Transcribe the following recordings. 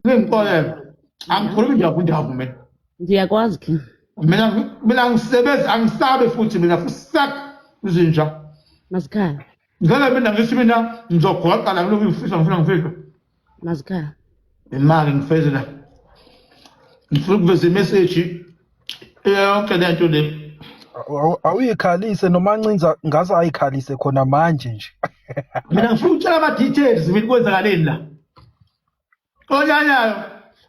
ningixolele angikhulumi nje kundavu mina ngiyakwazi king mina mina ngisebenzi angisabe futhi mina fusak izinja mazikhaya ngeke mina ngithi mina ngizogoqa la kulokhu ngifisa ngifuna ngifika mazikhaya imali ngifezela ngifuna ukuveza imeseji yonke lento le awuyikhalise noma ncinza ngaze ayikhalise khona manje nje mina ngifuna ukutshela ama details mina kwenzakaleni la onyanyayo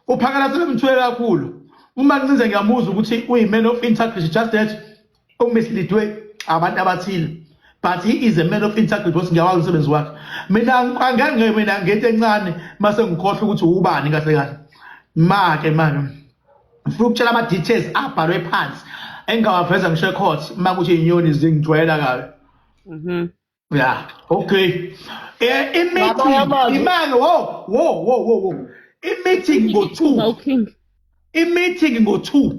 uphakalasele mthwele kakhulu uma ncinze ngiyamuzwa ukuthi uyimene of integrity just that umislidwe abantu abathile but he is a man of integrity boss ngiyawazi umsebenzi wakhe mina angangeke mina ngento encane mase ngikhohle ukuthi ubani kahle kahle make manje ngifuna ukutshela ama details abhalwe phansi engawaveza ngisho ecourt uma kuthi inyoni zingijwayela kabi mhm ya okay eh imeeting imani wo wo wo wo wo imeeting ngo 2 imeeting ngo 2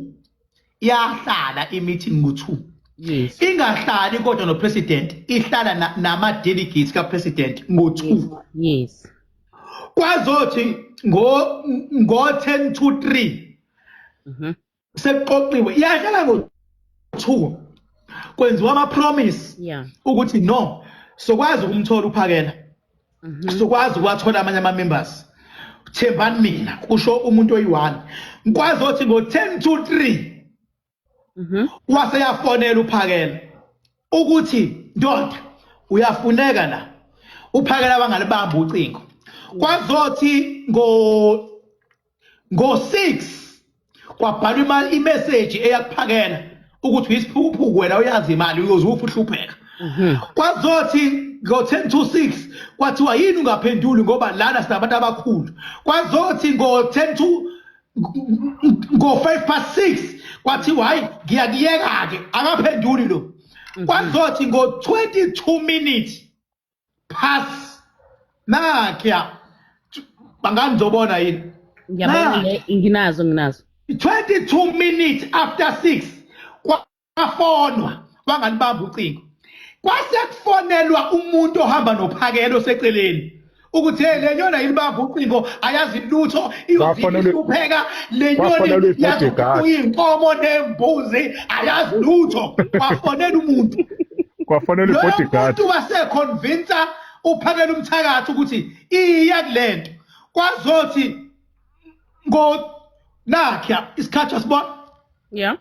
yahlala imeeting ngo 2 yes ingahlali kodwa no president ihlala nama delegates ka president ngo 2 yes kwazothi ngo ngo 10 to 3 mhm sekuqoqiwe iyahlala kuthiwa kwenziwa ama-promise ukuthi no sokwazi ukumthola uphakela mhm. sokwazi ukuwathola amanye ama-members thembani mina kusho umuntu oyi-one ngikwazi othi ngo-ten to three mhm. waseyafonela uphakela ukuthi ndoda uyafuneka la uphakela bangalibamba ucingo kwazothi ngo ngo-6 kwabhalwa imeseji eyakuphakela ukuthi uyisiphukuphuku wena uyazi imali uyoze ufe uhlupheka mhm. kwazothi ngo-10 to 6 kwathiwa yini ungaphenduli ngoba lana sinabantu abakhulu kwazothi ngo-10 to ngo-five past six kwathiwa hhayi ngiyakuyeka-ke akaphenduli lo mhm. kwazothi ngo-22 minutes pass nakhya bangani ngizobona yini ngiyabona le nginazo nginazo 22 minutes after 6 kwafonwa bangani bamba ucingo kwase kufonelwa umuntu ohamba nophakelo seceleni ukuthi hey lenyona yini bamba ucingo ayazi lutho iyohlupheka le nyoni yazi uyinkomo nembuzi ayazi lutho kwafonela umuntu kwafonela ibodyguard umuntu waseconvince uphakela umthakathi ukuthi iya kulento kwazothi ngo nakhe isikhathi asibona yeah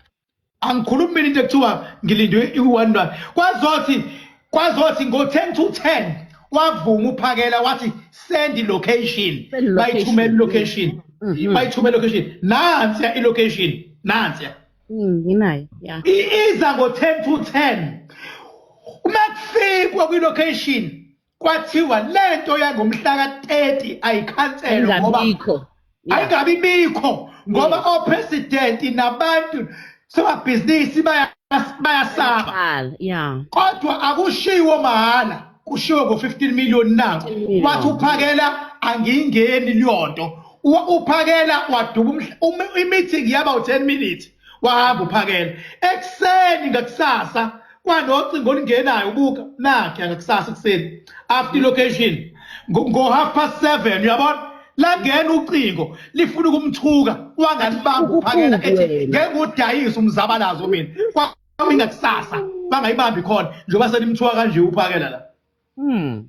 angikhulumi mina into ekuthiwa ngilindwe i-one rand kwazothi kwazothi ngo-ten to ten wavuma uphakela wathi send location bayithumela ilocation mm-hmm. bayithumela ilocation nansiya ilocation nansiya mm, nginayo ya iza ngo-ten to ten uma kufikwa kwilocation kwathiwa lento yangomhlaka 30 ayikhanselwe ngoba ayingabi bikho ngoba opresident nabantu somabhizinisi bayasaba yeah kodwa akushiwo mahhala kushiwo ngo 15 million na wathi uphakela angiyingeni liyonto uphakela waduba imithi ngiyaba u10 minutes wahamba uphakela ekuseni ngakusasa kwanocingo olungenayo ubuka nakhe angakusasa ekuseni after location ngo-half past seven uyabona langena ucingo lifuna ukumthuka wangalibamba uphakela ethi ngeke udayise umzabalazo mina kwamingakusasa bangayibambi khona njengoba senimthuka kanje uphakela la hmm.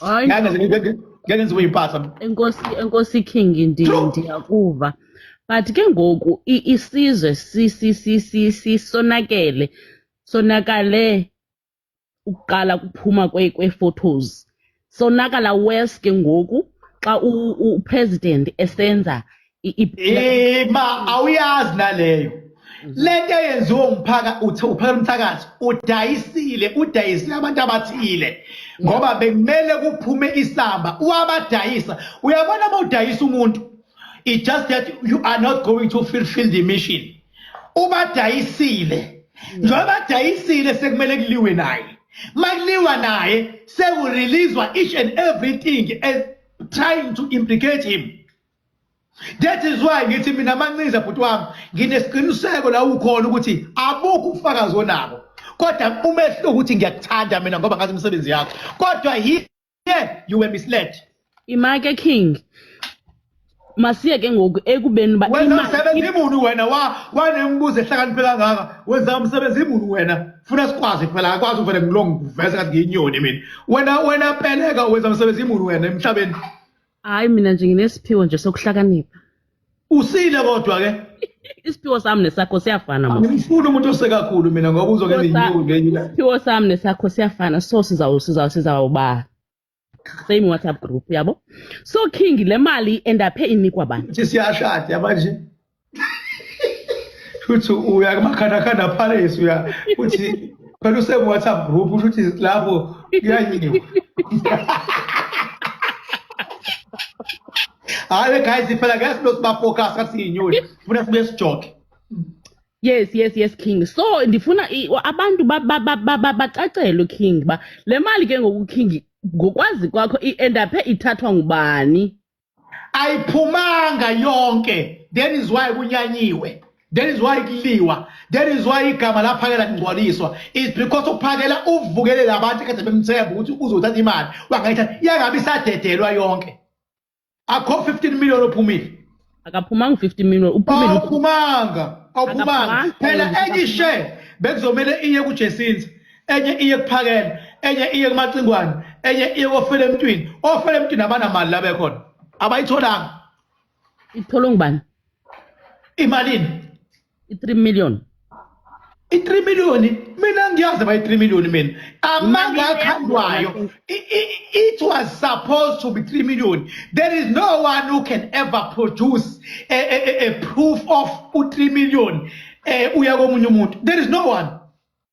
Hayi ngeke ngize- ngeke ngeke ngize uyimpatha enkosi enkosi king ndi- True. ndiyakuva but ke ngoku i- isizwe si- si- si- si- si- sonakele sonakale ukuqala kuphuma kwe- kwe-photos sonakala worse ke ngoku xa u- u- upresident esenza ima awuyazi naleyo lento eyenziwa umphaka uthi uphela umthakazi udayisile udayisile abantu abathile ngoba bekumele kuphume isamba uwabadayisa uyabona uma udayisa umuntu it just that you are not going to fulfill the mission ubadayisile njengoba badayisile sekumele kuliwe naye makuliwa naye sekureleaswa each and everything as trying to implicate him That is why ngithi mina mancinza bhuti wami nginesiqiniseko la ukhona ukuthi abukho ufakazi onabo kodwa umehluko ukuthi ngiyakuthanda mina ngoba ngazi imisebenzi yakho kodwa here you were misled imake king masiye ke ngoku ekubeni uba wena msebenzi imuni wena wanembuzo ehlakaniphe kangaka wenza umsebenzi imuni wena funa sikwazi phela akwazi uvele ngilongivese kathi ngiyinyoni mina wena wena peleka wenza umsebenzi imuni wena emhlabeni hayi mina nje nginesiphiwo nje sokuhlakanipha usile kodwa ke isiphiwo sami nesakho siyafana mos angimfuni umuntu osekakhulu mina ngoba uzoke nenyuku ngenye ilanga isiphiwo sami nesakho siyafana so sizawu sizawu sizawuba same whatsapp group yabo so king le mali endaphe inikwa bani ukuthi siyashada manje shuthi uya kumakhandakhanda palace uya uthi phela usekuwhatsapp group usho ukuthi lapho kuyanyiwa hayi guys phela guys lo sibafocus athi inyoni funa sibe sijoke yes yes yes king so ndifuna abantu bacacelwe king ba le mali ke ngoku king ngokwazi kwakho i-endaphe ithathwa ngubani ayiphumanga yonke that is why kunyanyiwe that is why kuliwa that is why igama laphakela lingcwaliswa is because uphakela uvukelele abantu kade bemthemba ukuthi uzothatha imali wangayithatha iyangabe isadedelwa yonke akho 15 million ophumile akaphumanga u-50 million uphumile awuphumanga awuphumanga phela enye ishe bekuzomele iye kujesinza enye iye kuphakela enye iye kumacingwane enye iye kofela emntwini ofela emntwini abanamali la bekhona abayitholanga ithola ngubani imalini i-3 million i-3 million mina ngiyazi ba i-3 million mina amanga akhandwayo it was supposed to be 3 million there is no one who can ever produce a, a, a, a proof of u-3 million eh uya komunye umuntu there is no one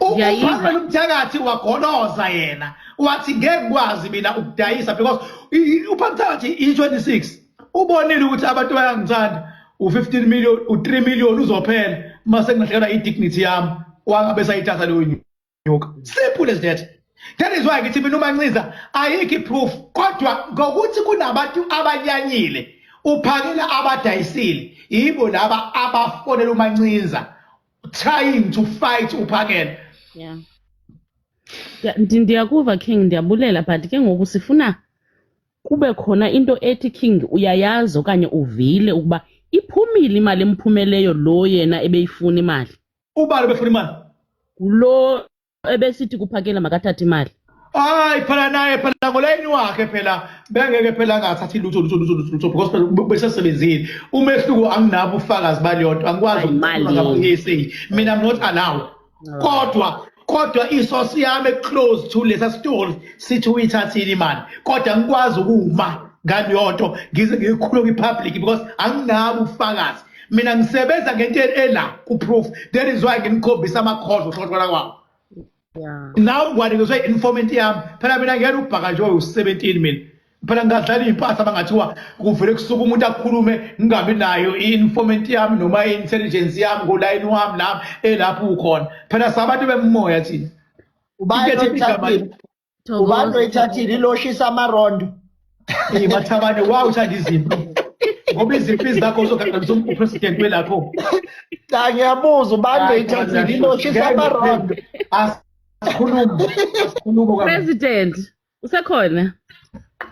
uhambe umthakathi wagoloza yena wathi ngeke kwazi mina ukudayisa because uphamthakathi i-26 ubonile ukuthi abantu bayangithanda u-15 million u-3 million uzophela uma sengingahlekela i-dignity yami wangabe sayithatha leyo nyuka simple as that that is why ngithi mina umancinza ayikho i-proof kodwa ngokuthi kunabantu abanyanyile uphakela abadayisile yibo laba abafonela umancinza trying to fight uphakele yeah ndiyakuva king ndiyabulela but ke ngoku sifuna kube khona into ethi king uyayazi okanye uvile ukuba iphumile imali emphumeleyo lo yena ebeyifuna imali ubani befuna imali lo ebesithi kuphakela makathathe imali hayi phela naye phela ngolayini wakhe phela bengeke phela angathathi lutho lutho lutho lutho lutho because phela ube- besesebenzile umehluko anginabo ubufakazi baleyo nto angikwazi Hayi, ukukhuluma mali. ngabakuyisay mina I'm not allowed kodwa kodwa isosi yami eclose to lesa store sithi uyithathile imali kodwa ngikwazi ukuma ngaleyo nto ngize ngikhulume kwi-public because anginabo ubufakazi mina ngisebenza ngento ela kuproof that is why nginikhombisa amakhozo uhlothola kwawo nawe ngwanikizwe i-informant yami phela mina ngiyena ubhaka nje owu-seventeen mina phela ngingadlala iy'mpahla bangathiwa kuvele kusuke umuntu akhulume ngingabi nayo i-informant yami noma i-intelligence yami ngolayini wami lami elapho ukhona phela sabantu bemoya thina Ubani oyithathile iloshisa amarondo. Hey mathabane wow uthanda izimpi. Ngoba izimpi zakho uzoganganisa upresident welapho. Cha ngiyabuza ubani oyithathile iloshisa amarondo. Asikhulume. Asikhulume. President usekhona?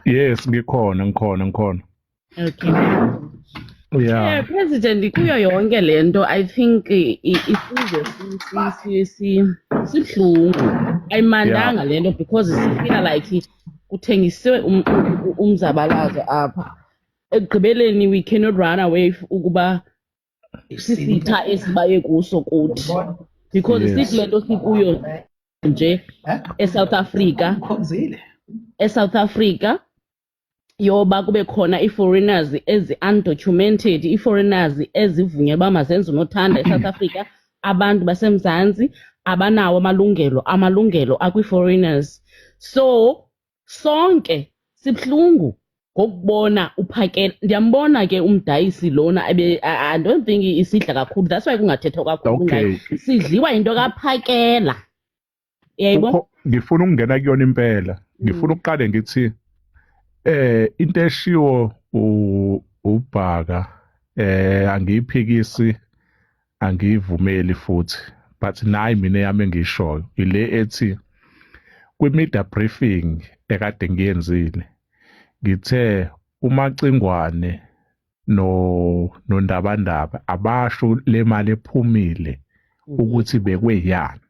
Yes ngikhona ngikhona ngikhona. Okay. Yeah. Eh, President kuyo yonke lento I think i- i- isizwe si- si- si- si- sibuhlungu ayimandanga lento because sifila like kuthengisiwe um- u- u- umzabalazo apha ekugqibeleni we cannot run away f- ukuba sisitha esibaye kuso kuthi because Yes. sikule nto sikuyo nje eSouth Africa eSouth Africa yoba kube khona ii-foreigners ezi-undocumented ii-foreigners ezivunyelwe uba mazenze unothanda e-south africa abantu basemzantsi abanawo amalungelo amalungelo akwii-foreigners so sonke sibuhlungu ngokubona uphakela ndiyambona ke umdayisi lona i don't think isidla kakhulu that's why kungathethwa kakhulu ngayo sidliwa yinto kaphakela yayibona Ukho- ngifuna ukungena kuyona impela ngifuna ukuqale ngithi eh into eshiwo u- ubhaka eh angiyiphikisi angiyivumeli futhi but nayi mina yami engiyishoyo ile ethi kwi-media briefing ekade ngiyenzile ngithe umacingwane no nondabandaba abasho le mali ephumile mm. ukuthi bekweyani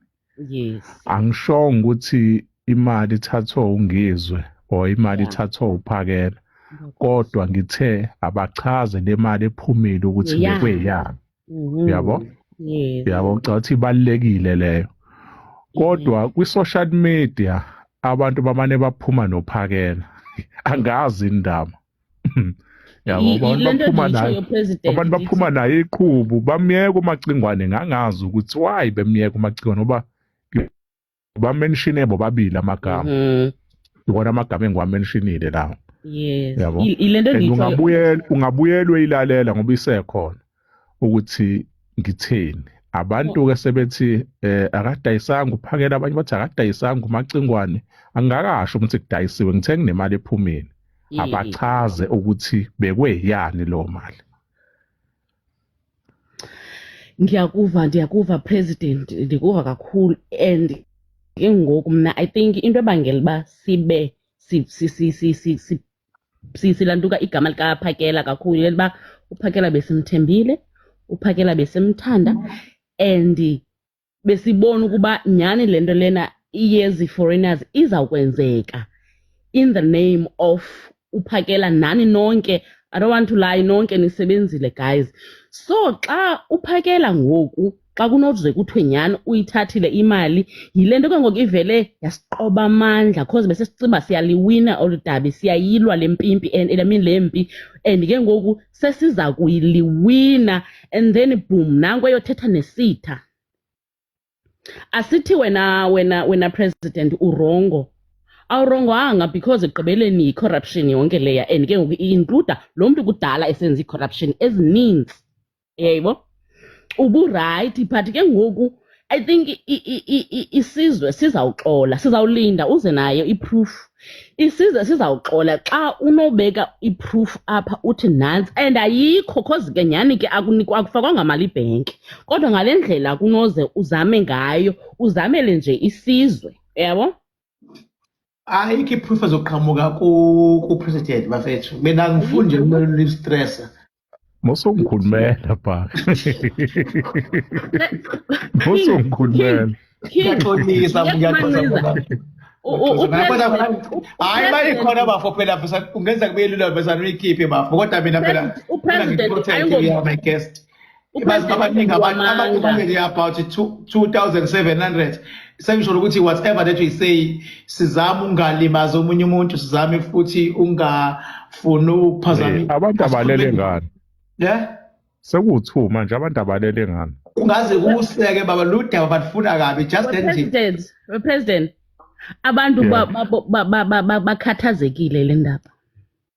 yes angishongo ukuthi imali ithathwa ungizwe or imali ithathwa uphakela kodwa ngithe abachaze le mali ephumile ukuthi bekweyani Mhm. Yabo? Yes. Yabo ngicabanga ukuthi ibalekile leyo. Kodwa kwi social media abantu bamane baphuma nophakela. Angazi indaba. Yabo I- i- abantu lento baphuma engiyishoyo, nayo. President, Abantu ngithi- baphuma nayo iqhubu bamyeka umacingwane ngangazi ukuthi why bemyeka umacingwane ngoba bamenshine bobabili amagama mm. iwona amagama engiwamenshinile lawo yes yabo ilento ungabuyela ungabuyelwe ilalela ngoba isekhona ukuthi ngithini abantu ke sebethi eh akadayisanga uphakela abanye bathi akadayisanga umacingwane angakasho ukuthi kudayisiwe ngithe nginemali ephumile abachaze ukuthi bekweyani lo mali ngiyakuva ndiyakuva president ndikuva kakhulu and ke ngoku mna i think into ebangela uba sibe silantuka igama likaphakela kakhulu yile uba uphakela besimthembile uphakela besimthanda and besibona ukuba nyhani le nto lena yezi-foreigners izawukwenzeka in the name of uphakela nani nonke i don't want to lie nonke nisebenzile guys so xa uphakela ngoku xa kunoze kuthiwe nyhani uyithathile imali yile nto ke ngoku ivele yasiqoba amandla cause besesicinga uba siyaliwina olu dabi siyayilwa le mpimpi and i mean le mpi and ke ngoku sesiza kuyiliwina and then boom nanku eyothetha nesitha asithi wena wena wena president urongo awurongwanga because ekugqibeleni yi-corruption yonke leya and ke ngoku i-includa lo mntu kudala esenza i-corruption ezininzi eyayibo uburayithi but ke ngoku i think isizwe sizawuxola sizawulinda uze nayo iproof isizwe sizawuxola xa unobeka iproof apha uthi nantsi and ayikho cause ke nyhani ke akufakwanga mali ibhenki kodwa ngale ndlela kunoze uzame ngayo uzamele nje isizwe yabo ayikho iproof ezoqhamuka kupresident bafethu mina angifuni nje kumele ulistressa mosungikhulumela bha mosungikhulumela ngiyaxolisa ngiyaxolisa hayi uma ikhona bafo phela kungenzeka kube lula bezana uyikhiphe bafo kodwa mina phela upresident abantu abaningi abantu abantu abaningi about 2700 sengisho ukuthi whatever that we say sizama ungalimaza omunye umuntu sizame futhi ungafuni ukuphazamisa abantu abalele ngani yeah sekuwu-2 manje abantu abalele ngani kungaze kuseke baba ludaba balifuna kabi just that nje president abantu bakhathazekile le ndaba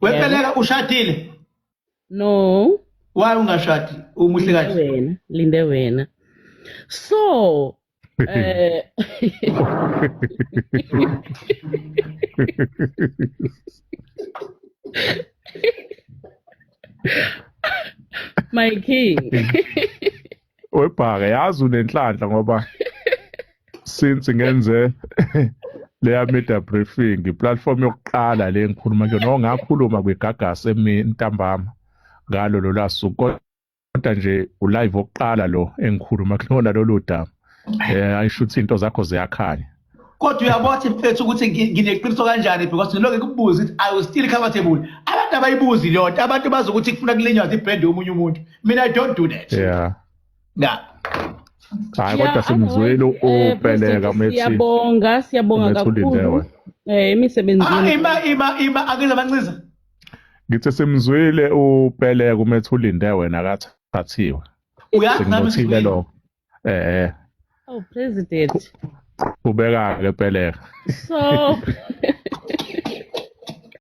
Wepeleka ushadile? No. Why ungashadi? Umuhle kahle. Wena, linde wena. So, eh My king. webhaka yazi unenhlanhla ngoba since ngenze leya media briefing platform yokuqala le ngikhuluma ke no ngakhuluma kwigagasi emintambama ngalo lolasuku kodwa nje ulive oqala lo engikhuluma kulona lolu daba eh ayisho ukuthi into zakho ziyakhanya kodwa uyabothi mfethu ukuthi ngineqiniso kanjani because ngiloke kubuza ukuthi i was still comfortable abantu abayibuzi leyo nto abantu bazi ukuthi kufuna kulinywa zibrand omunye umuntu mina i don't do that yeah na hayi kodwa simzwile upeleka eh, methi siyabonga siyabonga kakhulu eh imisebenzi ah, ima ima ima akela banxiza ngithe simzwile upeleka umethi ulinde wena akathathiwe uyazi nami lokho eh oh president ubeka ke peleka so